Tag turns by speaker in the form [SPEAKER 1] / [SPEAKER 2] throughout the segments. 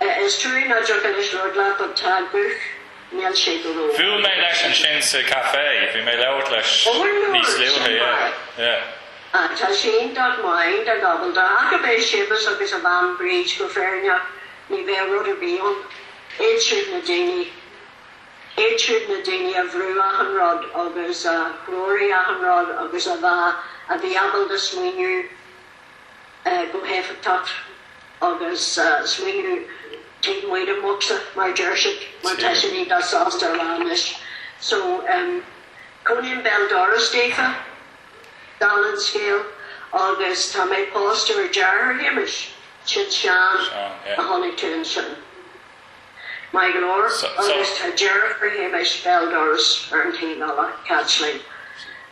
[SPEAKER 1] Is true ná deoch anois lord leat but tá guth níl sé go ró. Bhuail mé leis
[SPEAKER 2] ansin sa caife, bhí mé ag labhairt leis níos luaithe, sin yeah, maith. yeah. Ah, tá sé
[SPEAKER 1] iontach maith, iontach ábalta, ach ab é Séamus agus a bhean Bríd go fírinneach, ní bheadh rud ar bith ann. Iad siúd na daoine, iad siúd na daoine a bhrú achan rud agus a threoraigh achan rud agus a bhí, a bhí ábalta smaoineamh, go héifeachtach agus smaoineamh taobh amuigh den bhocsa mar a deir siad mar tá sé an-fhaiseanta a rá anois. So cónaím béal doras daofa, dála an scéil, agus tá mé pósta ar dheartháir Shéamais, sin Seán a chonaic tú ansin. Maith go leor, agus tá deirfiúr Shéamais béal doras ar an taobh eile, Caitlín.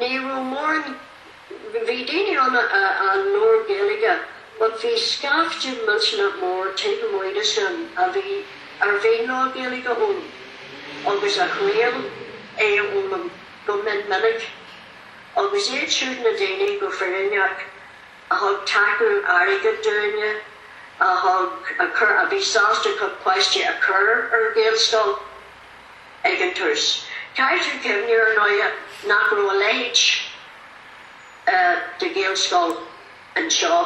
[SPEAKER 1] Ní raibh mórán, bhí daoine ann a raibh neart Gaeilge but bhí scaifte millteanach mór taobh amuigh de sin a bhí ar mhaith leo Gaeilge a fhoghlaim agus a thriail é a fhoghlaim go mion minic agus iad siúd na daoine go fírinneach a thug tacú airgid dúinne, a thug, a bhí sásta a gcuid páistí a chur ar Ghaelscoil. ag an tús. Caithfidh tú cuimhneamh, ar ndóigh, nach raibh leithéid de Ghaelscoil anseo.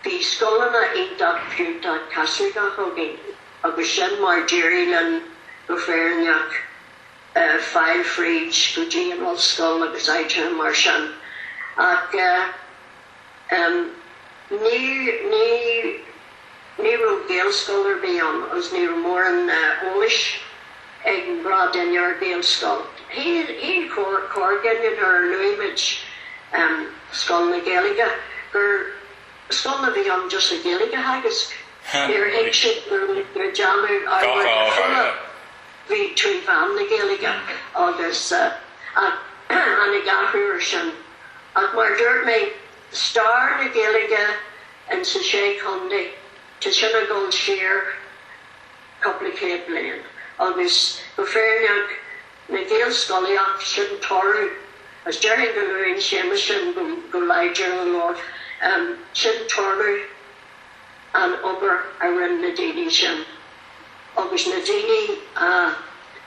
[SPEAKER 1] Bhí scoileanna iontach fiúntach Caitliceacha againn agus sin mar d'éirigh linn go fírinneach fáil fríd go dtí an ollscoil agus áiteanna mar sin. Ach. Ní raibh Gaelscoil ar bith ann agus ní raibh mórán eolais ag an ghnáthdhuine ar Ghaelscoil. Shíl corrdhuine nuair a luaigh muid Scoil na Gaeilge gur scoil a bhí ann just le Gaeilge a theagasc. Níor thuig sé go raibh muid ag déanamh achan rud trí mheán na Gaeilge. Agus tháinig athrú air sin. Ach mar dúirt mé, stair na Gaeilge in sa Sé Chontae, tá sin ag dul siar cúpla céad bliain. Agus go fírinneach, an Ghaelscolaíocht, sin toradh, agus déarfainn go luann Séamus sin go láidir go leor, sin toradh ar an obair a rinne na daoine sin, agus na daoine a.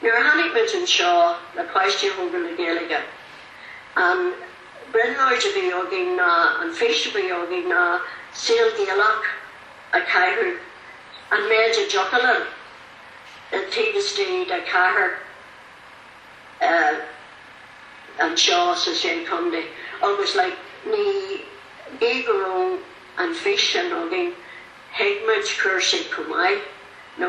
[SPEAKER 1] Nuair a tháinig muid anseo le páistí a thógáil le Gaeilge, an brionglóid a bhí againn ná, an fhís a bhí againn ná saol Gaelach a caitheamh, an méid a dtiocfadh linn, taobh istigh de chathair anseo sa Sé Chondae. Agus like, ní, bíodh go raibh an fís sin againn, thuig muid cúrsaí chomh maith, nó.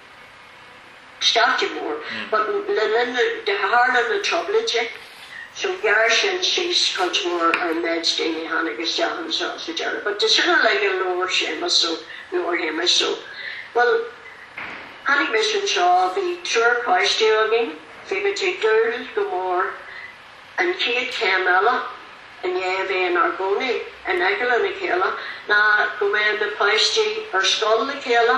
[SPEAKER 1] stailce mór. But le, de, tharla na Trioblóidí, so ghearr sin síos cuid mhór ar an mhéid daoine a tháinig isteach anseo sa deireadh. But de sin uilig, labhair Séamus, so, labhair Séamus, so, bhuel, tháinig mise anseo, bhí triúr páistí againn, bhí muid ag dúil go mór An chéad chéim eile i ndiaidh a bheith inár gcónaí in aice lena chéile ná go mbeadh na páistí ar scoil le chéile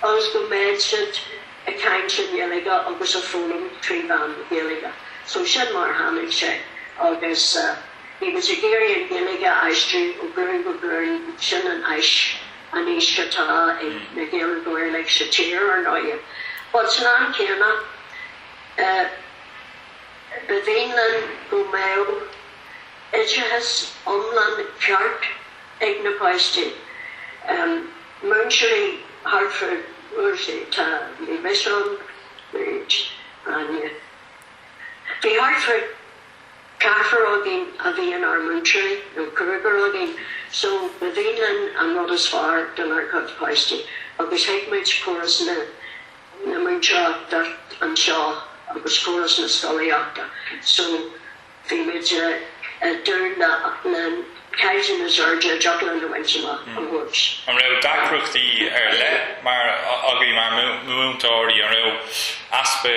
[SPEAKER 1] agus go mbeadh siad ag caint i nGaeilge agus ag foghlaim trí mheán na Gaeilge. So sin mar a tháinig sé agus dóibh a bhí ag iarraidh an Ghaeilge a aistriú ó ghlúin go glúin. Sin an fhís, an fhís atá ag na Gaeilgeoirí uilig sa tír ar ndóigh. But san am céanna, eh, Ba mhian linn go mbeadh oideachas iomlán ceart ag na páistí. Múinteoirí thart fá, bhuel, tá, bhí mise ann, bhí Áine, bhí thart fá ceathrar againn a bhí inár múinteoirí, nó cúigear againn, so ba mhian linn an rud is fearr dár gcuid páistí agus thuig muid córas na, na múinteoireachta anseo agus córas na scolaíochta so bhí muid ag dúil le le caighdeán na Seirde a d'fhoghlaim na muintir amach ó thuairisc. An raibh
[SPEAKER 2] deacrachtaí ar leith agaibh mar mhúinteoirí? An raibh easpa.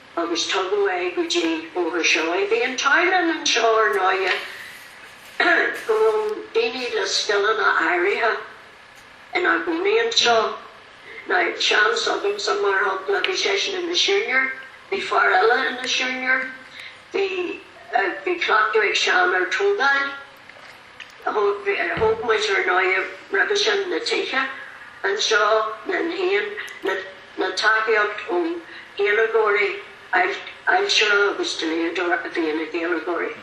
[SPEAKER 1] agus tugadh é go dtí Bóthar Seoighe. Bhí an t-ádh linn anseo, ar ndóighe, go raibh daoine le scileanna áirithe ina gcónaí anseo, now Séamus anseo, mar shampla, bhí seisean ina shiúinéir, bhí fear eile ina shiúinéir, bhí, bhí cleachtadh ag Seán ar thógáil. Thóg muid, ar ndóigh, roimhe sin, na tithe anseo, linn féin, le tacaíocht ó Ghaeilgeoirí, ailtire agus dlíodóir a bhí ina Ghaeilgeoirí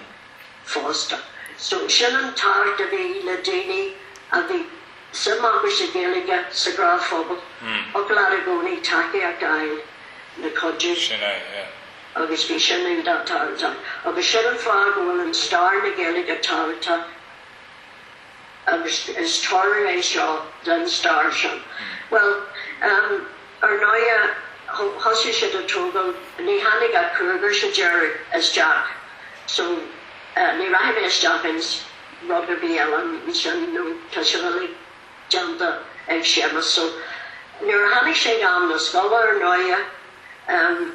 [SPEAKER 1] fosta. So, sin an tábhacht a bhí le daoine a bhí suim acu sa Ghaeilge, sa ghrá phobail, thig leat i gcónaí tacaíocht a fháil le cuidiú. Sin é, yeah. Agus bhí sin iontach tábhachtach. Agus sin an fáth go bhfuil an stair na Gaeilge tábhachtach. Agus is toradh é seo den stair sin. Bhuel, em, ar ndóighe, thosaigh siad ag tógáil, ní tháinig ach cúigear sa deireadh isteach, so, eh, ní rachaidh mé isteach ins rud ar bith eile ansin nó tá sin uilig déanta ag Séamus. So, nuair a tháinig sé chun na scoile, ar ndóighe, em,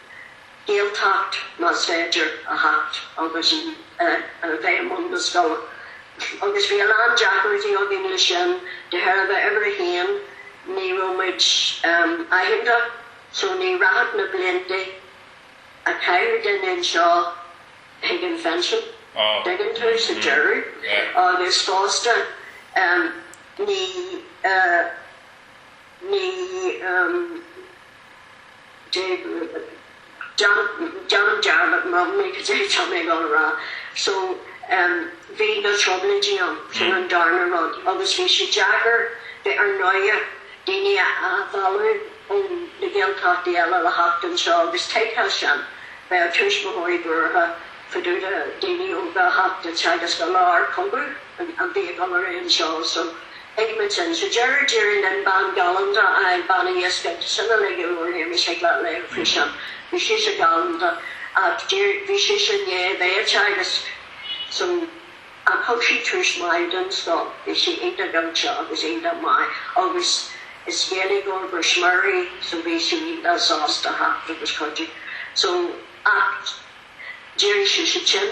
[SPEAKER 1] Gaeltacht, más féidir a theacht agus a bheith i mbun na scoile. Agus bhí a lán deacrachtaí againn le sin, de thairbhe uimhir a haon, ní raibh muid aitheanta, so ní rachadh na blianta a chaithfeadh duine anseo chuig an phinsean, dtuigeann tú, sa deireadh. Agus fosta, ní, ní, ní, ní. Déanaim dearmad in amannaí cad é atá mé ag dul a rá. So bhí na trioblóidí ann, sin an darna rud, agus bhí sé deacair bheith ar ndóighe daoine a mhealladh ó na Gaeltachtaí eile le theacht anseo agus thuigfeá sin, bheadh tuismitheoirí buartha fá dtaobh de daoine óga a theacht ag teagasc i lár cogadh, a bhí ag dul ar aghaidh anseo. So Edmonton, sa deireadh d'éirigh linn bean galánta a fháil, Bean Uí Dhiscín ag sileadh le gile ó Shéamus ag leath lae an phríosáin. Bhí sise galánta, ach d'éirigh, bhí sise néata agus agus san, ach thug sí tús maith don scoil, bhí sí iontach oilte agus iontach maith agus is Gaeilgeoir go smior í so bhí sí iontach sásta theacht agus cuidiú so ach d'éirigh sise tinn.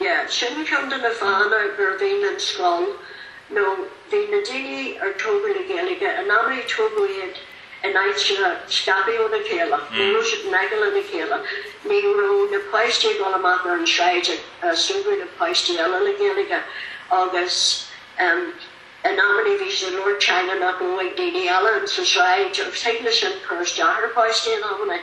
[SPEAKER 1] Yeah, sin ceann de na fáthanna gurbh ann don scoil nó bhí na daoine ar tógadh le Gaeilge, in amannaí tógadh iad in áiteanna scaipthe óna chéile, ní raibh siad in aice lena chéile, ní raibh na páistí ag dul amach ar an sráid ag súgradh le páistí eile le Gaeilge agus em in amannaí bhí siad ag labhairt teanga nach raibh ag daoine eile sa sráid agus thig le sin cur isteach ar pháistí in amannaí.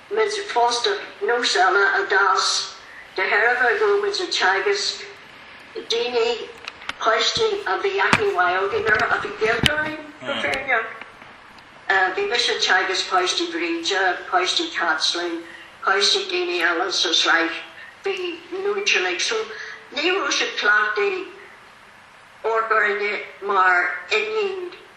[SPEAKER 1] muid fosta nós eile a d'fhás de thairbhe go raibh muid ag teagasc daoine, páistí a bhí aithne mhaith againn orthu, a bhí gaolta dúinn go fírinneach, bhí mise ag teagasc páistí Bhríde, páistí Chaitlín, páistí daoine eile sa tsráid, a bhí muinteartha, so ní raibh siad cleachtaithe amharc orainne mar iníon.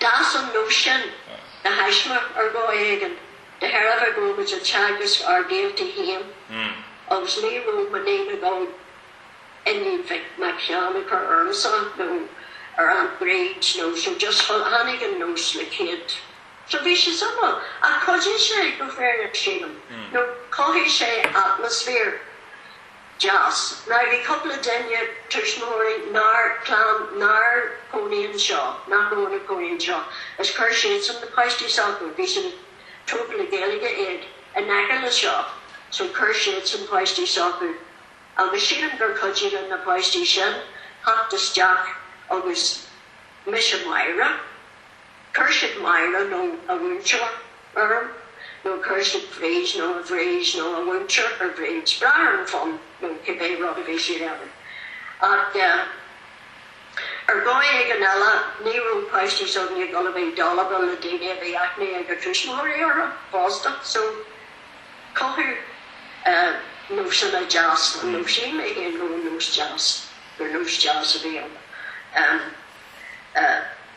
[SPEAKER 1] D'fhás an nós sin de thaisme ar dhóigh éigin de thairbhe go raibh muid ag teagasc ár ngaolta féin agus ní raibh muid ag dul Bean Mhic Sheáin a chur ormsa nó ar Aunt Bríd nó so just tháinig an nós le chéad so bhí sé suimiúil ach chuidigh sé, go fírinneach sílim, nó chothaigh sé atmaisféar. deas. Now bhí cúpla duine, tuismitheoirí nár, clann nár chónaigh anseo, nach raibh ina gcónaí anseo, is chuir siadsan na páistí s'acu, bhí siad, tógadh le Gaeilge iad, in aice le seo, so chuir siadsan páistí s'acu agus sílim gur chuidigh le na páistí sin theacht isteach agus mise Máire, Chuir siad Máire nó a mhúinteoir orm, nó chuir siad Bríd nó a Bhríd nó a mhúinteoir ar Bhríd, brath ar an bhfonn nó cibé rud a bhí siad a iarraidh. Ach ar dhóigh éigin eile ní raibh páistí s'againne ag dul a bheith dalba le daoine a bhí aithne ag a dtuismitheoirí orthu fosta, so cothaíodh nósanna deasa, nó shíl mé féin go raibh nós deas, gur nós deas a bhí ann.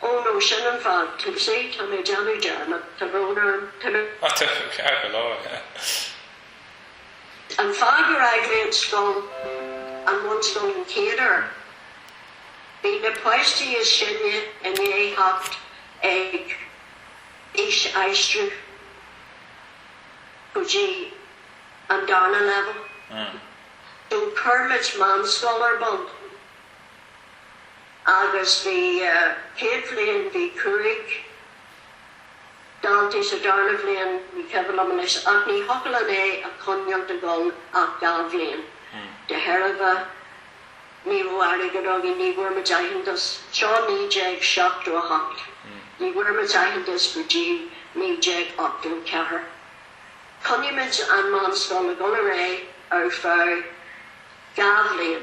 [SPEAKER 1] Oh no, sin an fáth, tá sé, tá mé ag déanamh dearmad, tá brón orm, tá mé. Tá tú ceart
[SPEAKER 2] go
[SPEAKER 1] leor. An fáth gur fhág mé an scoil, an bhunscoil an chéad uair, bhí na páistí is sine i ndiaidh theacht ag aois aistriú go dtí an darna leibhéal, so chuir muid meánscoil ar bun. Agus bhí céad bhliain, bhí cúig daltaí sa darna bhliain, ní cuimhin liom anois, ach ní thiocfadh linn é a choinneáilt ag dul ach dhá bhliain. De thairbhe ní raibh airgead againn, ní bhfuair muid aitheantas. Seo 1978. Ní bhfuair muid aitheantas go dtí 1984. Choinnigh muid an meánscoil ag dul ar aghaidh ar feadh dhá bhliain.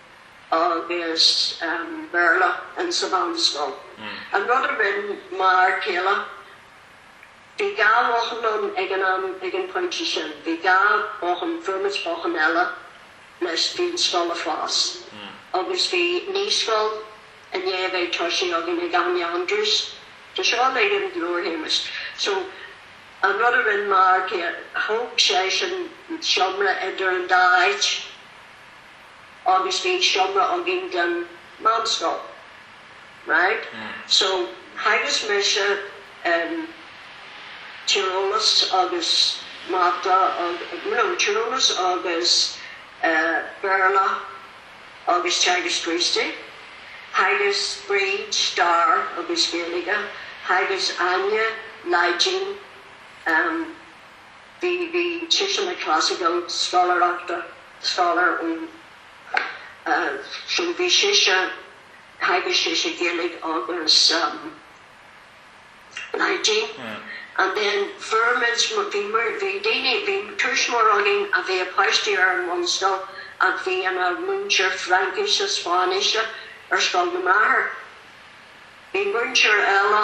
[SPEAKER 1] agus Béarla in sa mheánscoil. An rud a rinn m'fhear céile, bhí dhá bhothán ann ag an am, ag an pointe sin, bhí dhá bothán, fuair muid bothán eile leis bhí an scoil ag fás agus bhí naíscoil i ndiaidh a bheith toisithe againn ag Áine Andrews, tá seo uilig i leabhar Shéamuis. So, an rud a rinn m'fhear céile, thóg seisean seomra idir an dá áit. agus bhí seomra againn don mheánscoil, right, so theagasc mise tíreolas agus mata agus, no, tíreolas agus Béarla agus Teagasc Críostaí, theagasc Bríd stair agus Gaeilge, theagasc Áine Laidin, bhí sise ina classical scoláir, scholar, so bhí sise theagasc sise Gaeilge agus Laidin and then fuair muid bhí muid bhí daoine bhí tuismitheoir againn a bhí a páistí ar an bhunscoil and bhí ina múinteoir Fraincise Spáinnise ar scoil Mháire bhí múinteoir eile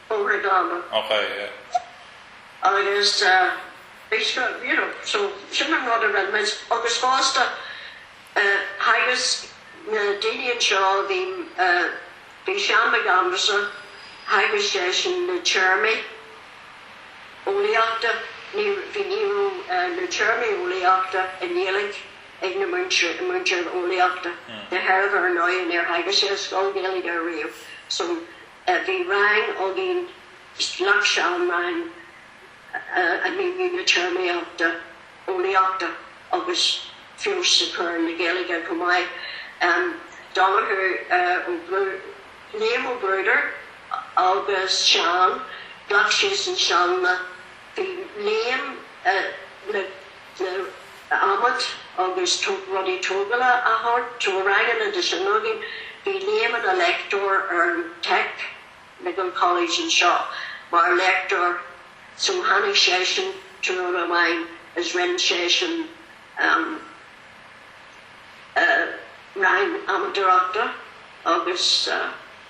[SPEAKER 1] Comhar Dhála.
[SPEAKER 2] Och, aye.
[SPEAKER 1] Agus, bhí sé, you know, so sin an rud a rinne muid. Agus fosta, theagasc na daoine anseo, bhí, bhí Seán Mac Aindreasa, theagasc seisean na téarmaí eolaíochta, ní, bhí, ní raibh na téarmaí eolaíochta i nGaeilge ag an mhúinteoir eolaíochta, de thairbhe, ar ndóigh, níor theagasc sé i scoil Ghaeilge ariamh, so, a bhí rang againn, ghlac Seán rang a mhíniú na téarmaíochta eolaíochta agus feabhas a chur ar an Ghaeilge chomh maith. Donnchadh Ó Bruadair, Liam Ó Bruadair agus Seán, ghlac siadsan sealanna. Bhí Liam le, le, adhmaid agus rudaí tógála a thabhairt do ranganna de sin againn. Bhí Liam ina léachtóir ar an Technical College anseo, mar léachtóir so tháinig seisean tráthnóna amháin is rinne seisean an rang adhmadóireachta agus.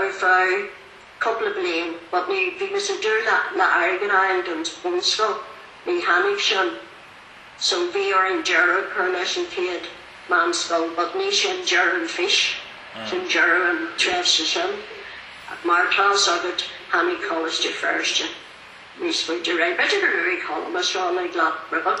[SPEAKER 1] ar feadh cúpla bliain, but ní, bhí mise ag dúil le, le airgead a fháil don bhunscoil, ní tháinig sin, so bhí orainn deireadh a chur leis an chéad mheánscoil, but ní sin deireadh an fís, sin deireadh an tréimhse sin, mar atá fhios agat, tháinig Coláiste Feirste níos faide, right, b'fhéidir gur luaigh Colm sin uilig leat.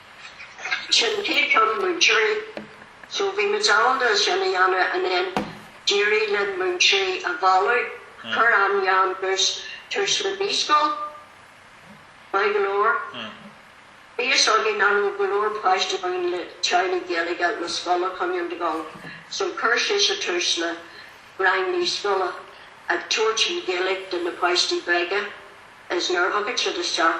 [SPEAKER 1] Sin pé ceann múinteoirí. So bhí muid ábalta sin a dhéanamh and then d'éirigh linn múinteoirí a mhealladh. Chuir Áine Andrews tús le naíscoil. Maith go leor. Bhí a fhios againn nach raibh go leor páistí againn le teaghlaigh Gaeilge le scoil a choinneáil ag dul. So chuir sise tús le rang naíscoile ag tabhairt an Ghaeilge do na páistí beaga is nuair a thagadh siad isteach.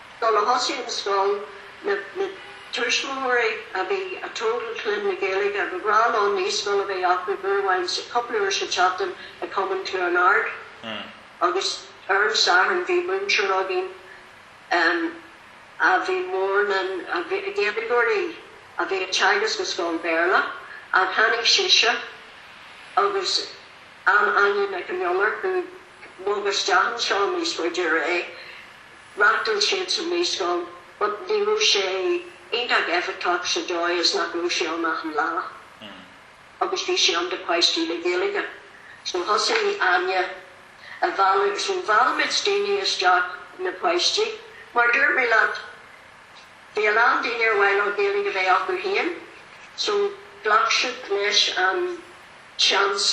[SPEAKER 1] Nuair a thosaigh an scoil, na tuismitheoirí a bhí ag tógáil clainne le Gaeilge ghnách leo naíscoil a bheith acu uair amháin sa, cúpla uair sa tseachtain i gCumann Chluain Ard agus ar an Satharn bhí múinteoir againn a bhí mór linn, Gaeilgeoir í a bhí ag teagasc i scoil Béarla ach tháinig sise agus Áine Nic an Iolair, a. bhog isteach anseo níos faide, reáchtáil siadsan naíscoil but ní raibh sé iontach éifeachtach sa dóigh is nach raibh sé ann achan lá agus bhí sé ann do páistí le Gaeilge so thosaigh Áine ag mealladh so mheall muid daoine isteach na páistí mar dúirt mé leat bhí a lán daoine ar mhaith leo Gaeilge a bheith acu féin so ghlac siad leis an seans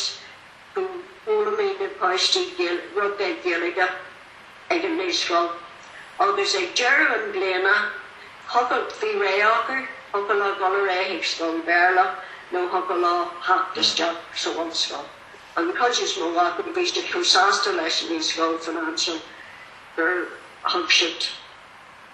[SPEAKER 1] go bhfoghlaimeodh na páistí roinnt Gaeilge, ag an naíscoil. Agus ag deireadh na bliana, thiocfadh, bhí rogha acu, thiocfadh leo dul ar aghaidh chuig scoil Bhéarla nó thiocfadh leo theacht isteach sa bhunscoil. An chuid is mó acu, bhí siad chomh sásta leis an naíscoil Phobal Feirste gur fhan siad.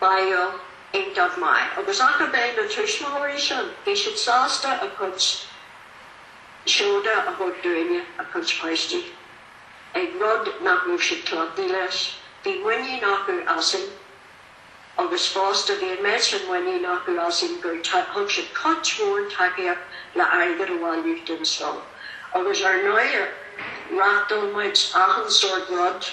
[SPEAKER 1] bhí iontach maith. Agus ach ab é na tuismitheoirí sin, bhí siad sásta a gcuid seoda a thabhairt dúinne, a gcuid páistí, ag rud nach raibh siad cleachtaithe leis. Bhí muinín acu asainn agus fosta bhí an méid sin muinín acu asainn gur thug siad cuid mhór tacaíocht le airgead a bhailiú don scoil. Agus ar ndóigh, reachtáil muid achan sort rud.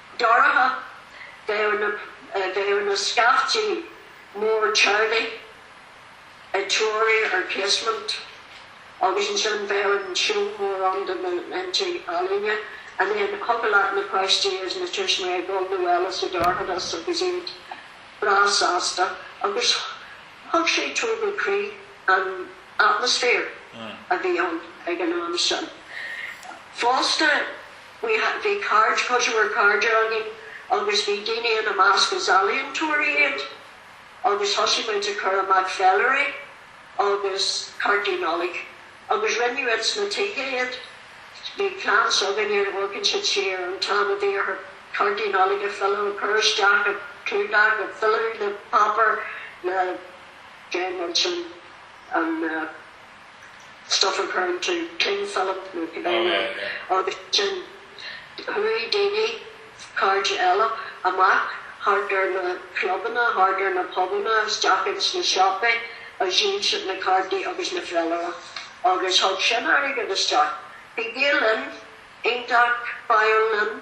[SPEAKER 1] Dorcha, bheadh na scaifte mór ag tarraingt a dtreo ar Casement agus ansin bheadh an seó mór ann de na tinte ealaíne, and then thiocfadh le na páistí agus na tuismitheoirí a ghabháil abhaile sa dorchadas agus iad breá sásta agus thug sé tógáil croí an atmaisféar a bhí ann ag an am sin fosta. Bhí cairde, cos bhí cairde againn agus bhí daoine ina measc is ealaíontóirí iad agus thosaigh muid ag cur amach féilirí agus cártaí Nollag agus rinneadh ins na tithe iad. Bíonn clann s'againne ag amharc siar an t-am a bhí orthu cártaí Nollag a fhilleadh a chur isteach i gclúdach an féilire páipéar a dhéanamh ansin an stuif a chur i gceann cling film, agus ansin chuaigh daoine, cairde eile, amach thart ar na clubanna, thart ar na pubanna, isteach ins na siopaí, agus dhíol siad na cártaí agus na féilirí, agus thug sin airgead isteach. Bhí Gael Linn iontach maith linn.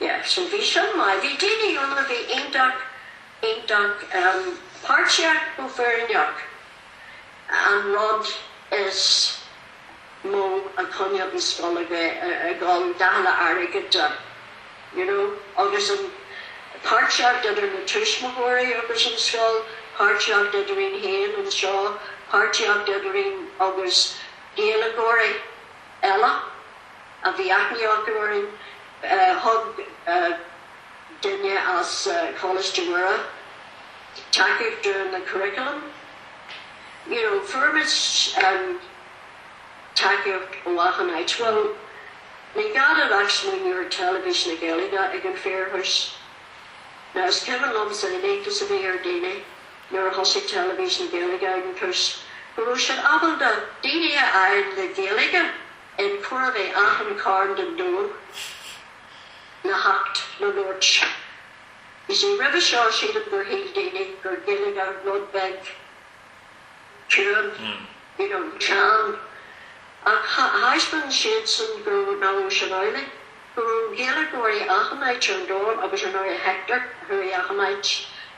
[SPEAKER 1] Yeah, so bhí sin maith. Bhí daoine ann a bhí iontach, iontach páirteach go fírinneach. An rud is mó a choinníodh an scoil ag dul, dála airgead de, you know, agus an páirtíocht idir na tuismitheoirí agus an scoil, páirtíocht idirínn féin anseo, páirtíocht idirínn agus Gaeilgeoirí eile. a bhí aithne acu orainn. Thug duine as Coláiste Mhuire tacaíocht dúinn le curriculum. You know, fuair muid tacaíocht ó achan áit. Bhuel, ní gá duit ach smaoineamh ar Teilifís na Gaeilge ag an fíorthús. Now, is cuimhin liomsa an iontas a bhí ar daoine nuair a thosaigh Teilifís na Gaeilge ag an fíorthús, go raibh siad ábalta daoine a fháil le Gaeilge! In chóir a bheith achan cearn den domhan le theacht le labhairt. You see, roimhe seo sílim gur shíl daoine gur Gaeilgeoir rud beag ciúin, you know, teann, ach thaispeáin siadsan go raibh, nach raibh sin amhlaidh, go raibh Gaeilgeoirí achan áit ar domhan agus, ar ndóigh, Hector a chuaigh achan áit.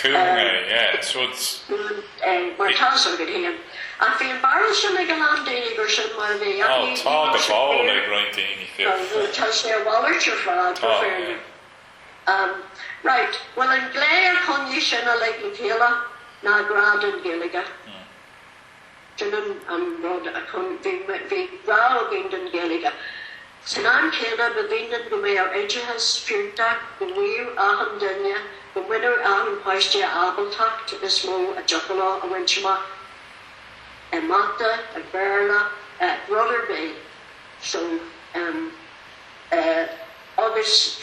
[SPEAKER 1] Cool é,
[SPEAKER 2] yeah, so, mar tá
[SPEAKER 1] a fhios agat féin. Ach bhí an barúil sin ag a lán daoine gur sin mar a bhí. Ó, tá go fóill ag
[SPEAKER 2] roinnt daoine, fiú. Tá sé a
[SPEAKER 1] mhalairt ar fad. Right, bhuel, an glae a choinnigh sin uilig le chéile ná grá don Ghaeilge. Sin an, an rud a choinnigh. Bhí grá againn don Ghaeilge. San am céanna, ba mhian linn go mbeadh oideachas fiúntach, go mbíodh achan duine, go mbainfeadh achan páiste a ábaltacht is mó a dtiocfadh leo a bhaint amach i Mata, i Béarla, rud ar bith. So, um, uh, agus.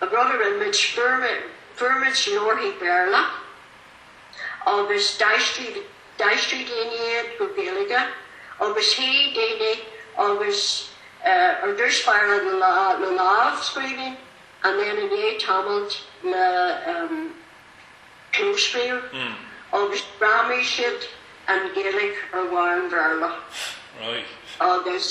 [SPEAKER 1] An rud a rinne muid, fuair muid leabharthaí Béarla agus d'aistrigh daoine iad go Gaeilge agus shuigh daoine agus ar dtús báire le lámhscríbhinn and then i ndiaidh tamaill le clóscríobh agus ghreamaigh siad an Ghaeilge ar bharr an Bhéarla
[SPEAKER 2] agus.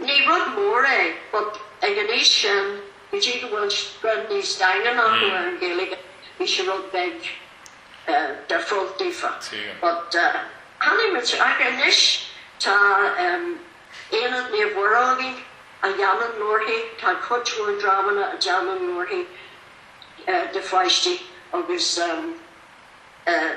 [SPEAKER 1] Ní rud mór é, but ag an aois sin, go dtí go bhfuil greim níos daingean acu ar an Ghaeilge, bhí sé rud beag difriúil daofa. But tháinig muid, ach anois tá Aonad Naomh Mhuire againn a dhéanann leabharthaí, tá cuid mhór dreamanna a dhéanann leabharthaí do pháistí agus eh,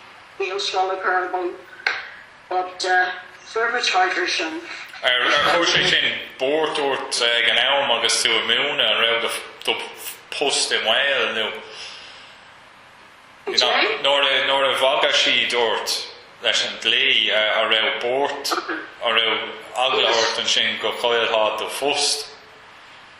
[SPEAKER 1] Mar bhunscoil a chur ar bun, but fuair muid thairis sin. Ar chuir
[SPEAKER 2] sé sin buairt ort ag an am agus tú ag múineadh? An raibh do phost i mbaol nó nuair a bhagair siad ort leis an dlí, an raibh buairt, an raibh eagla ort ansin go gcaillfeá do phost?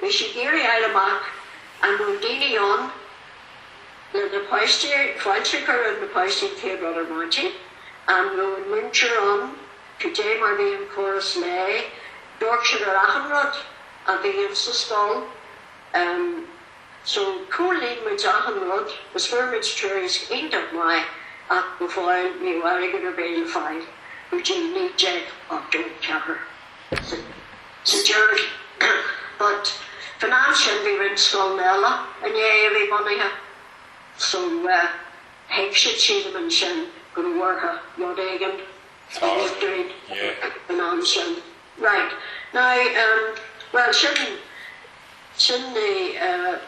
[SPEAKER 1] Bhí sí ag iarraidh a fháil amach an raibh daoine ann leis na páistí, féachaint go raibh na páistí an chéad rud ar maidin, an raibh an múinteoir ann, cad é mar a bhí an córas léinn, d'amharc siad ar achan rud a bhí ann sa scoil. em. so chomhlíon muid achan rud is fuair muid tuairisc iontach maith ach go fóill ní raibh airgead ar bith le fáil go dtí 1984. So. Sa deireadh, but. Faoin am sin bhí roinnt scoileanna eile in Éirinn bunaithe, so thuig siad silim ansin go raibh orthu rud éigin a dhéanamh dúinn faoin am sin. Right. Now, bhuel, sin, sin é.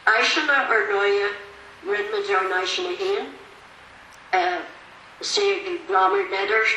[SPEAKER 1] Áiseanna, ar ndóighe, rinne muid ár n-áiseanna féin, sea, bhí banda letters,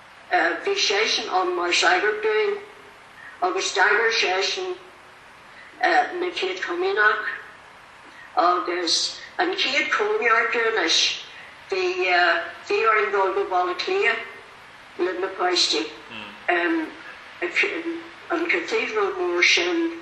[SPEAKER 1] Bhí seisean ann mar shagart dúinn agus d'eagraigh seisean na chéad Chomaoineach agus an chéad Chóineartú dúinn is. Bhí bhí orainn dul go Baile Átha Cliath leis na páistí, an cathedral mór sin.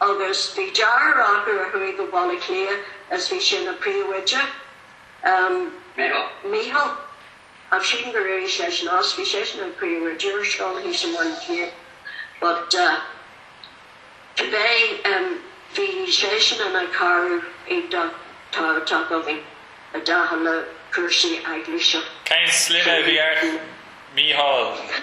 [SPEAKER 1] Agus bhí deartháir acu a chuaigh go Baile Átha Cliath is bhí sé ina phríomhoide, Micheál, Mícheál, sílim go raibh seisean as, bhí seisean ina phríomhoide ar scoil thíos i mBaile Átha Cliath but cibé, bhí seisean ina chara iontach tábhachtach againn i dtaca le cúrsaí eaglaise. Cén sloinne a
[SPEAKER 2] bhí ar Micheál?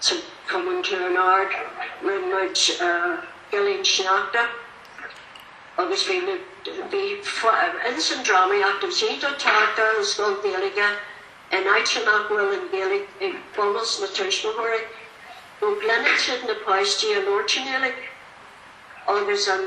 [SPEAKER 1] sa Chumann Chluain Ard, rinne muid Gilín Sneachta agus bhí na, bhí, ins an drámaíocht, agus é tábhachtach do scoil Ghaeilge in áiteanna nach bhfuil an Ghaeilge ag bunús na tuismitheoirí, go gcluineann siad na páistí ag labhairt i nGaeilge agus an.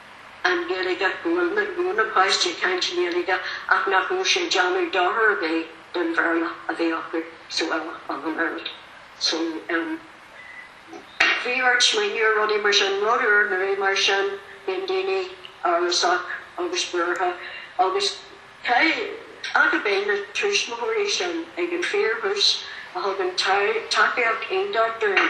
[SPEAKER 1] an Ghaeilge, go bhfuil, go gcluineann na páistí ag caint i nGaeilge ach nach bhfuil sé ag déanamh dochar ar bith don Bhéarla a bheith acu sa bhaile ach an oiread. So, em, bhí ort smaoineamh ar rudaí mar sin. Rud úr, nó rud mar sin, bíonn daoine amhrasach agus buartha agus caithfidh mé a rá go raibh na tuismitheoirí sin ag an fíor-thús a thug an tacaíocht iontach dúinn,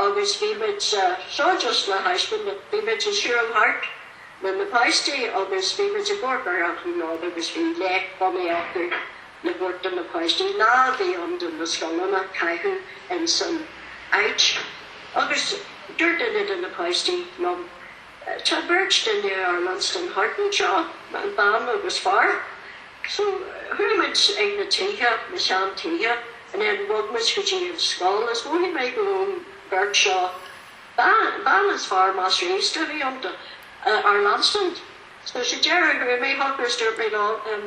[SPEAKER 1] Agus bhí muid, seo just le thaispeáint, bhí muid ag siúl thart le na páistí agus bhí muid ag amharc ar an áit agus bhí léacht bunaithe acu le thabhairt do na páistí, lá a bhí ann do na scoileanna a chaitheamh insan áit. Agus dúirt duine de na páistí liom. Tá beirt duine ár leanstan thart anseo, bean agus fear, so chuaigh muid ag na tithe, na sean tithe, and then bhog muid go dtí an scoil is mhothaigh mé go raibh an bheirt seo, bean is fear measartha aosta a bhí iontu, ár leanstan. So sa deireadh chuaigh mé chucu is dúirt mé leo, em,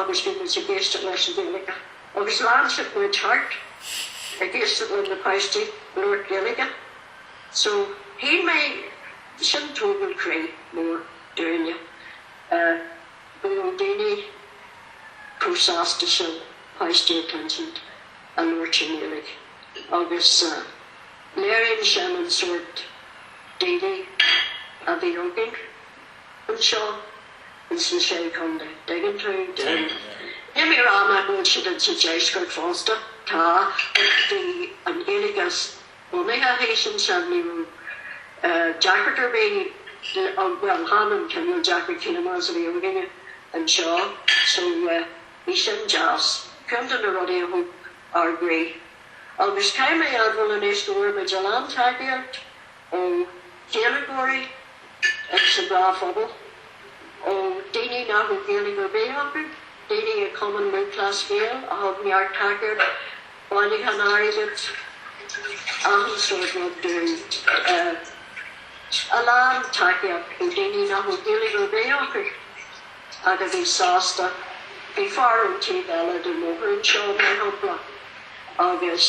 [SPEAKER 1] agus bhí siad ag éisteacht leis an Ghaeilge agus lean siad muid thart ag éisteacht le na páistí ag labhairt Gaeilge so shíl mé sin tógáil croí mór dúinne go raibh daoine chomh sásta sin páistí a chluinstin ag labhairt i nGaeilge agus léiríonn sin an sórt daoine a bhí againn. anseo ins na Sé Chondae. Tuigeann tú? Tuigeann. Níl mé ag rá nach bhfuil siad ins an Deisceart fosta. Tá, ach bhí an Ghaeilge bunaithe thíos ansin. Ní raibh deacracht ar bith, bhuel, chan an cineál deacracht chéanna is a bhí againne anseo. So, yeah, bhí sin deas. Ceann de na rudaí a thóg ár gcroí. Agus caithfidh mé a admháil anois go bhfuair muid a lán tacaíocht ó Ghaeilgeoirí sa dá phobal, ó daoine nach bhfuil Gaeilge ar bith acu, daoine i Cumann Lúthchleas Gael a thug neart tacaíocht, bailiúchán airgid, achan sórt rud dúinn, a lán tacaíocht ó daoine nach bhfuil Gaeilge ar bith acu ach a bhí sásta. Bhí fear ón taobh eile den bhóthar anseo, mar shampla, agus.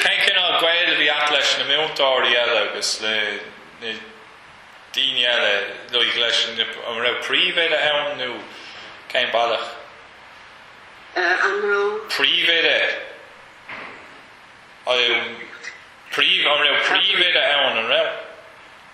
[SPEAKER 2] Cén cineál gaoil a bhí a't leis na múinteoirí eile agus le na daoine eile, like leis na, an raibh príomhoide ann nó cén bealach? An raibh príomhoide, an raibh príomhoide ann, an raibh?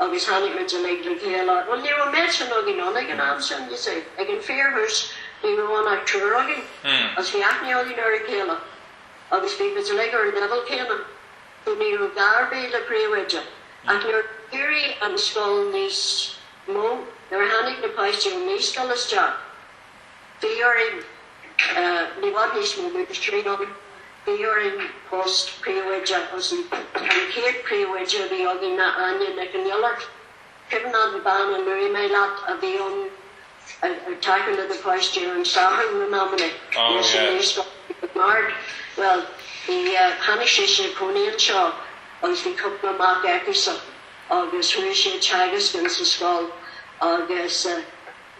[SPEAKER 1] Agus tháinig muid uilig le chéile. Bhuel, ní raibh mórán againn ann ag an am sin, you see. Ag an fíorthús, ní raibh ann ach triúr againn. Agus bhí aithne againn ar a chéile. Agus bhí muid uilig ar an leibhéal céanna. So ní raibh gá ar bith le príomhoide. Ach nuair a d'éirigh an scoil níos mó, nuair a tháinig na páistí ón naíscoil isteach, Fuair muid, ní bheadh níos mó múinteoirí againn, fuair muid post príomhoide a thosaí. An chéad príomhoide a bhí againn ná Áine Nic an Iolair. Cuimhin an bhean a luaigh mé leat a bhí ann ag
[SPEAKER 2] tacú le
[SPEAKER 1] na páistí ar an Satharn in amanna,
[SPEAKER 2] í
[SPEAKER 1] as an naíscoil i nGaird. Bhuel, í, tháinig sise ag cónaí anseo agus bhí cúpla mac aici-sa agus chuaigh sí ag teagasc ins an scoil agus,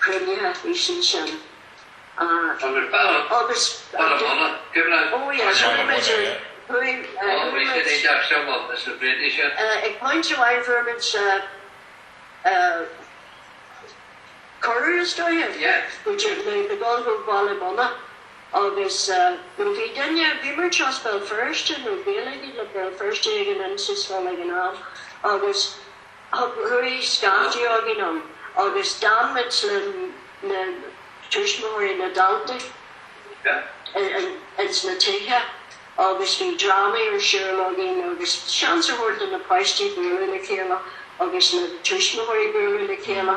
[SPEAKER 1] cuimhním é sin agus ag pointe amháin fuaireamid cuireadh, is
[SPEAKER 3] dóigh, do
[SPEAKER 1] dhul go Baile Munna nó bhí duine, bhí muid as Béal Feirste nó Gaeilge le Béal Feirste ag an Inse Scoil ag an am agus. Thug Ruairí scaifte againn ann agus d'fhan muid le na tuismitheoirí, na daltaí, ins na tithe agus bhí drámaí ar siúl againn agus seans a thabhairt do na páistí bualadh le chéile agus na tuismitheoirí bualadh le chéile.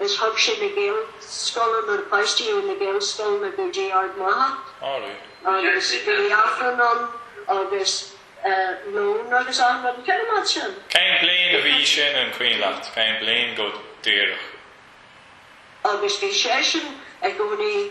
[SPEAKER 1] Is thug sé na Gaelscoileanna, na páistí ó na Gaelscoileanna go dtí Ard Mhacha agus bhí Aifreann ann agus lón agus achan rud. Cén uair a bhí sin? Cén bhliain a
[SPEAKER 2] bhí sin, an cuimhin leat? Cén bhliain go díreach?
[SPEAKER 1] Agus bhí seisean i gcónaí.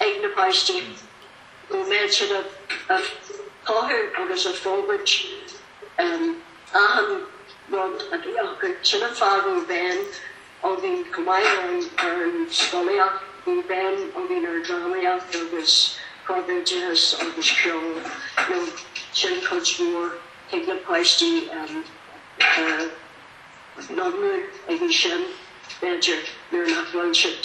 [SPEAKER 1] ag na páistí go mbeadh siad ag táthú agus ag fógairt achan rud a bhí acu. Sin an fáth a bhí béim againn chomh maith le ar an scolaíocht. Bhí béim againn ar drámaíocht agus corpoideachas agus ceol. Sin cuid mhór. Thig na páistí a n-iomrú ag an sin, b'fhéidir, nuair nach bhfuil siad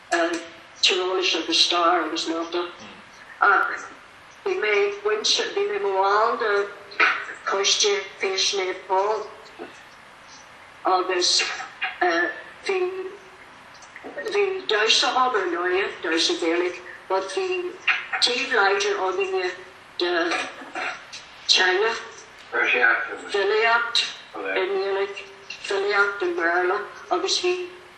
[SPEAKER 1] tíreolas agus stair agus mata ach bhí mé bainteach, bhí mé mo bhall de choiste Feis Naomh Pól agus bhí, bhí damhsa ann ar ndóighe, damhsa Gaelach but bhí taobh láidir ann de teanga, filíocht i nGaeilge, filíocht i mBéarla agus bhí,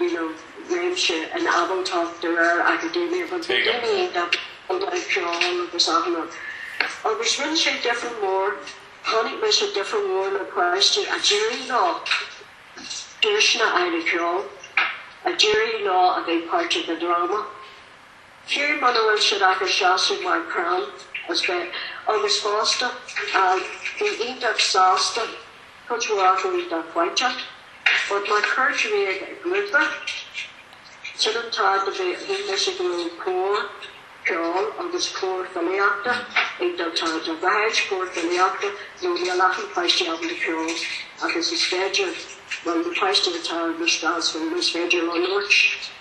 [SPEAKER 1] you know réimse ábaltachta de réir acadúil agus na daoine ag dul ag ceol agus ana agus rinne sé difear mór chonaic mise difear mór le páistí a d'éirigh leo duaiseanna aire ceol a d'éirigh leo a bheith páirteach i dráma Fiú muna bhfuil siad ach ag seasamh mar chrann as bheith agus fosta, bhí iontach sásta cuid mhór acu iontach faiteach. But má chuir tú iad i ngrúpa, sin an fáth a bhí mise go raibh cór ceoil agus cór filíochta ag dul thart. Tá dhá shaghas cór filíochta nó níl achan páiste ábalta ceol agus is féidir, bhuel na páistí atá ar an stáitse is féidir leo labhairt.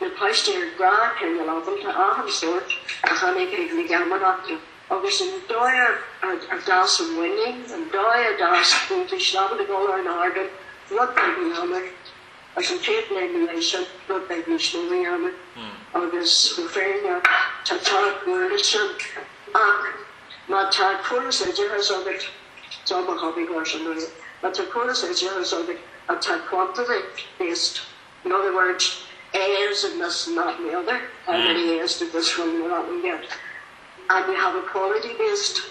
[SPEAKER 1] na páistí ar dhá chineál ábalta, achan sórt, a tháinig chuig na geamaireachtaí agus an dóigh ar d'fhás a muinín, an dóigh a d'fhás iontaoibh is ábalta dul ar an ardán, rud beag a dhéanamh, agus an chéad bhliain ina dhiaidh sin, rud beag níos mó a dhéanamh. Agus mo phéine, tá ceart go leor ansin, ach má tá córas oideachais agat, seo mo hobby horse, má tá córas oideachais agat atá quantity based, In other words, heirs of this and that and the other, how many heirs did this one or that one get? And you have equality based,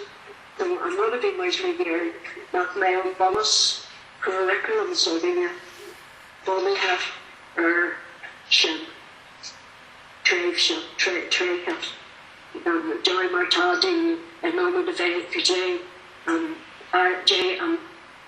[SPEAKER 1] so I'm going to be muesli here, nach mbeidh an bunus curriculum s'againne bunaithe ar sin, tréimhse, tréithe, deireadh mar atá daoine in ionad a bheith ag plé an, plé an,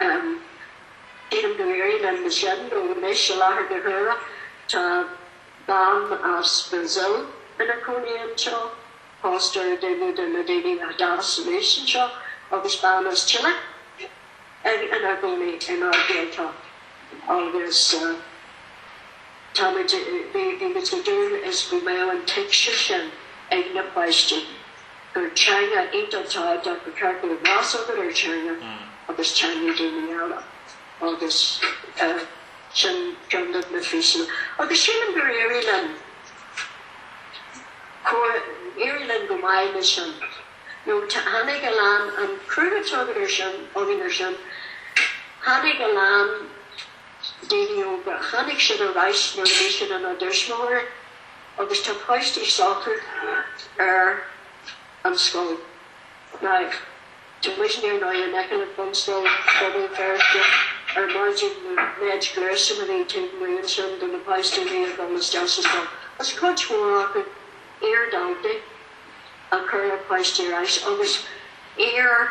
[SPEAKER 1] Deirim go n-éirí linn leis sin, nó anois, i láthair na huaire, tá bean as Brazil ina cónaí anseo, pósta ar dhuine de na daoine a d'fhás aníos anseo, agus bean as Chile ina gcónaí inár Gaeltacht, agus tá muid, bhí muid ag dúil is go mbeadh an tuigse sin ag na páistí. gur teanga iontach tábhachtach gur ceart go mbeadh meas agat ar theanga agus teanga daoine eile agus sin ceann de na físeanna agus sílim gur éirigh linn gur éirigh linn go maith leis sin nó tháinig a lán an cruthú atá againn ar sin againn ar sin tháinig a lán daoine óga tháinig siad ar ais nuair a bhí siad ina dtuismitheoirí. Agus tá páistí s'acu ar an scoil now, tá muidne ar ndóigh in aice le Bunscoil Phobal Feirste ar maidin an méid gluaisteáin taobh amuigh ansin do na páistí a bhí ag dul isteach sa scoil. Is cuid mhór acu iar-dhaltaí a chuir na páistí ar ais agus iar.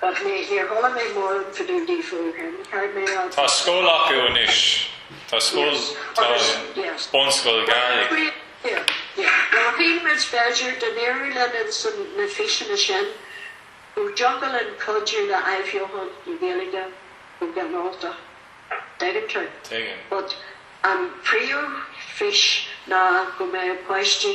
[SPEAKER 1] But mé níor chuala mé mórán fá dtaobh díofa ó shin. Tá
[SPEAKER 2] scoil acu anois. Tá scoil, tá bunscoil Ghaeilge.
[SPEAKER 1] Now bhí muid b'fhéidir go n-éireodh linn sna físeanna sin go dtiocfadh linn cuidiú le athbheochan na Gaeilge go ginearáltach. Tuigim tú. Tuigim. But an príomhfhís ná go mbeadh páistí.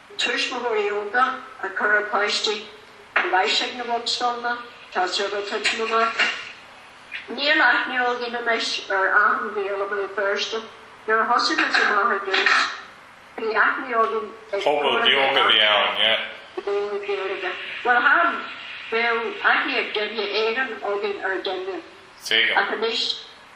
[SPEAKER 1] Tuismitheoirí óga ag cur a bpáistí anois chuig na bunscoileanna, tá sé ag titim amach. Níl aithne againn anois ar achan Ghael i mBéal Feirste. Nuair a thosaigh muid amach ar dtús, bhí aithne againn ag pobal
[SPEAKER 2] beag a bhí ann, yeah. Béarla,
[SPEAKER 1] Gaeilge. Bhuel, thar am. Bheadh aithne ag duine éigin againn ar dhuine. Ach anois.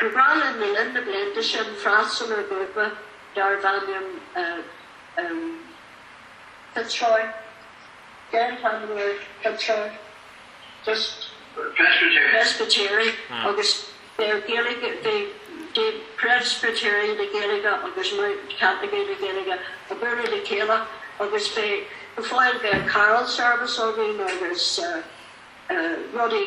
[SPEAKER 1] go raibh a lán le linn na blianta sin freastal ar ghrúpa darbh ainm Fitzroy, géarpheileadóir Fitzroy, just Presbyterian agus bhí Gaeilge, bhí Preispitéirigh le Gaeilge agus Caitlicigh le Gaeilge ag bualadh le chéile agus bhí, go fóill, bhí an carol service againn agus rudaí.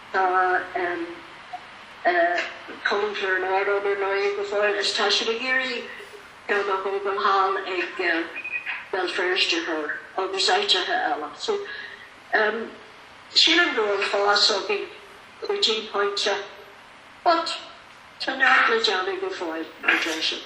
[SPEAKER 1] Tá Cumann Chluain Ard ann ar ndóigh go fóill is tá siad ag iarraidh ceann a thógáil thall ag Béal Feirste Thoir agus áiteacha eile. So sílim go bhfuil fás againn go dtí pointe but tá neart le déanamh go fóill, a deir siad.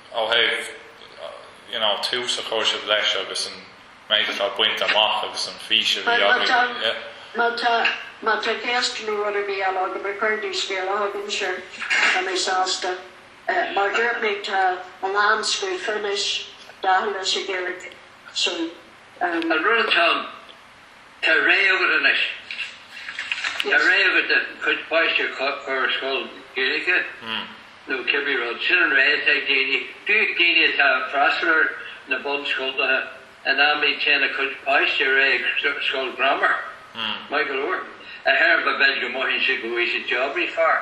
[SPEAKER 2] Ó thaobh, you know, tús a chuir sibh leis agus an méid atá bainte amach agus an fís a bhí agaibh, yeah. Má tá,
[SPEAKER 1] má tá ceist nó rud ar bith eile agat cuir scéala chugam, sure, tá mé sásta. Mar dúirt mé, tá a lán scríofa anois, dathanna sa Ghaeilge, so. An rud
[SPEAKER 3] atá ann. Tá rogha acu anois. Tá rogha acu a gcuid páistí a chur ar scoil Ghaeilge nó cibé rud. Sin an rogha atá ag daoine. Fiú ag daoine atá ag freastal ar na bunscoltacha in amanna téann a gcuid páistí ar aghaidh ag scoil grammar. Maith go leor. a déarfá, b'fhéidir go mothaíonn siad go bhfaighidh siad job níos fearr.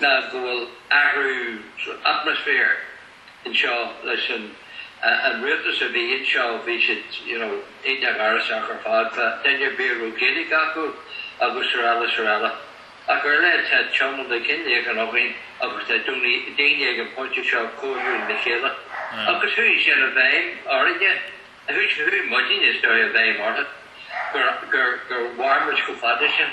[SPEAKER 3] ná go bhfuil athrú atmaisféir anseo leis an rialtas a bhí anseo, bhí siad you know iontach amhrasach ar fad, faoi dhuine ar bith a raibh Gaeilge acu agus araile is araile. Ach ar leith tá Teamann Mac Conghail againn agus tá daoine ag an bpointe seo cairdiúil le chéile agus chuaigh sin i bhfeidhm orainne, chuaigh muidinne is dóigh i bhfeidhm orthu gur mhair muid chomh fada sin.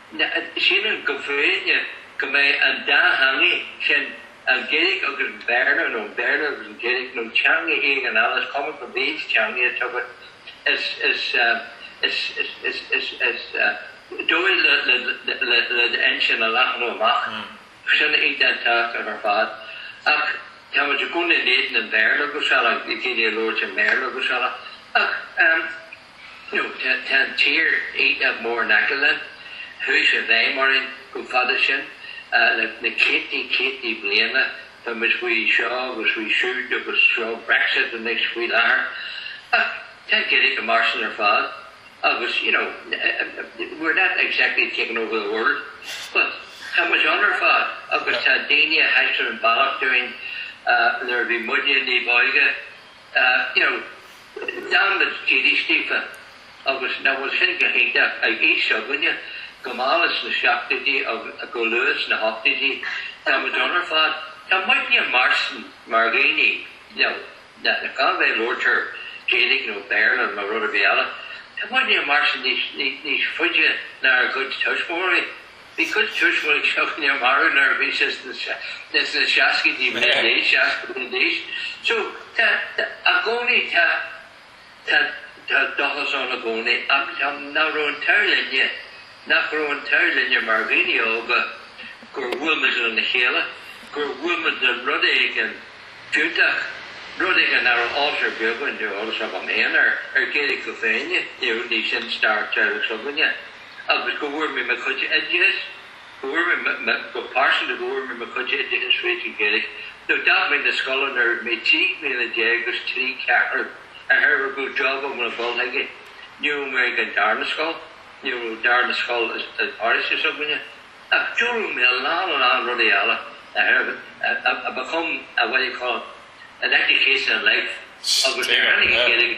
[SPEAKER 3] Sílim go fóill go mbeidh an dá theanga sin, an Ghaeilge agus an Béarla, nó an Béarla agus an Ghaeilge, nó teanga éigin eile, is cuma cibé teanga atá agat, is dóigh le d'intinn a leathnú amach. Sin í an teachtaireacht ar fad. Ach tá muid i gcónaí in éadan an Bhéarla agus eile, ag daoine a labhairt i mBéarla agus eile. Ach. Nó tá an tír iontach mór in aice linn. Chuaigh sé i bhfeidhm orainn chomh fada sin le na céadtaí céadtaí bliana. Tá muid faoi seo agus faoi siúd agus seo Brexit anois faoi láthair. Ach tá an Ghaeilge mar sin ar fad agus, you know, we're not exactly taking over the world but tá muid ann ar fad agus tá daoine a thaispeáin an bealach dúinn nuair a bhí muidne níb óige. you know, dearmad dílis daofa agus nach bhfuil sin go hiontach ag aois s'againne, go mall sna seachtóidí agus go luath sna hochtóidí, tá muid ann ar fad, tá muidne ag mairstean mar dhaoine, you know, na, cá bith a labhairtear Gaeilge nó Béarla nó rud ar bith eile, tá muidne ag mairstean níos, níos faide ná ár gcuid tuismitheoirí. Bhí cuid tuismitheoirí s'againne marbh nuair a bhí siad sna seascaidí, mid-seascaidí anois, so tá, i gcónaí, tá, tá, tá dóchas ann i gcónaí ach tá, nach raibh an t-ádh linne, nach raibh an t-ádh linne mar dhaoine óga gur bhuail muid lena chéile, gur bhuail muid le rud éigin fiúntach, rud éigin nach raibh eolas ar bith againn, ní raibh eolas agam féin air, ar Ghaeilge féin, ní raibh, ní sin stair teaghlaigh s'againne. agus go bhfuair mé mo chuid oideachais, go bhfuair mé, go pearsanta, go bhfuair mé mo chuid oideachais fríd an Ghaeilge. Nuair a d'fhág mé na scoile nuair a bhí mé trí bliana déag agus trí ceathrú, de thairbhe go raibh job agam le dhul chuige. Ní raibh mé ag an darna scoil, ní raibh an darna scoil sa pharóiste s'againne, ach d'fhoghlaim mé a lán, a lán rudaí eile, a become, what do you call it, an education in life agus tháinig an Ghaeilge.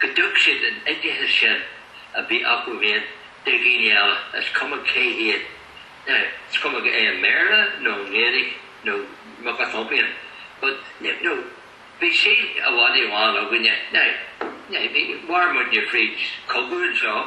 [SPEAKER 3] go dtug siad an oideachas sin a bhí acu féin do dhaoine eile, is cuma cé hiad, is cuma i mBéarla nó an Ghaeilge nó muc atá féin, but you know bhí saol i bhfad i ndán againne, now bhí, mhair muidne fríd chogadh anseo,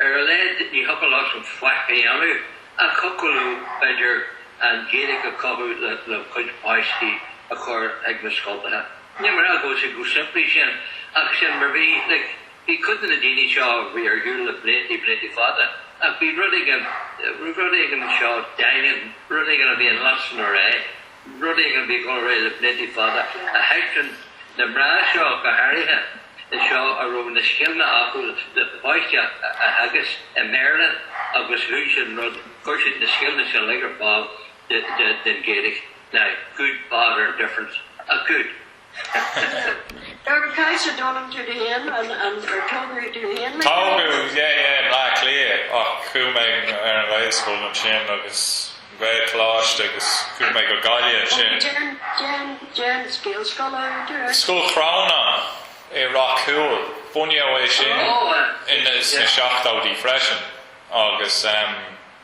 [SPEAKER 3] Ar a laghad ní thiocfadh leosan faic a dhéanamh ach thiocfadh leo, b'fhéidir, an Ghaeilge a chothú lena gcuid páistí a chur ag na scoltacha. Níl mé ag rá go bhfuil sé chomh simplí sin ach sin mar bhí. Like, bhí cuid de na daoine seo a bhí ar shiúl le bliantaí, bliantaí fada ach bhí rud éigin, bhí rud éigin anseo daingean, rud éigin a bhí in leasainm ar é. Rud éigin a bhí chun a rith le blianta fada, ach tháinig na mná seo go háirithe isteach a raibh na scileanna acu le páistí a theagasc i mBéarla agus chuir siad an rud, chuir siad na scileanna sin uilig ar fáil don Ghaeilge, God, what a difference a good.
[SPEAKER 1] Tá an caidhse dónam tú do féin, an tógadh tú
[SPEAKER 2] féin le Tógadh, yeah, yeah, i mBleá Cliath, ach chuaigh mé ar an Ghaelscoil ansin agus an Ghaelcholáiste agus chuaigh mé go Gaillimh ansin. Cén, cén, cén Ghaelscoil
[SPEAKER 1] a údar, eh? Scoil
[SPEAKER 2] Chrónáin i Ráth Cúil, bunaíodh é sin sna seachtóidí freisin, agus,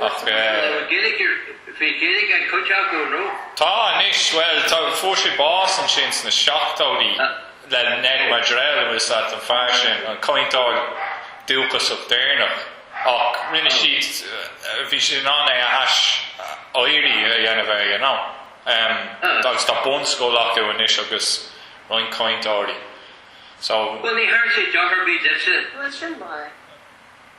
[SPEAKER 3] Ach.
[SPEAKER 2] Bhí
[SPEAKER 3] Gaeilge ag cuid acu, nó? Tá anois.
[SPEAKER 2] Bhuel, tá, fuair sé bás ansin sna seachtóidí le Ned Maddrell, an bhfuil 's leat an fear sin, an cainteoir dúchasach deireanach. Ach rinne siad, bhí siad in ann é a aiséirí a dhéanamh air, you know. Agus tá bunscoil acu anois agus roinnt cainteoirí, so. Bhuel, ní thabharfaidh sé
[SPEAKER 3] deoch ar bith duitse. Bhuel, sin
[SPEAKER 1] mar.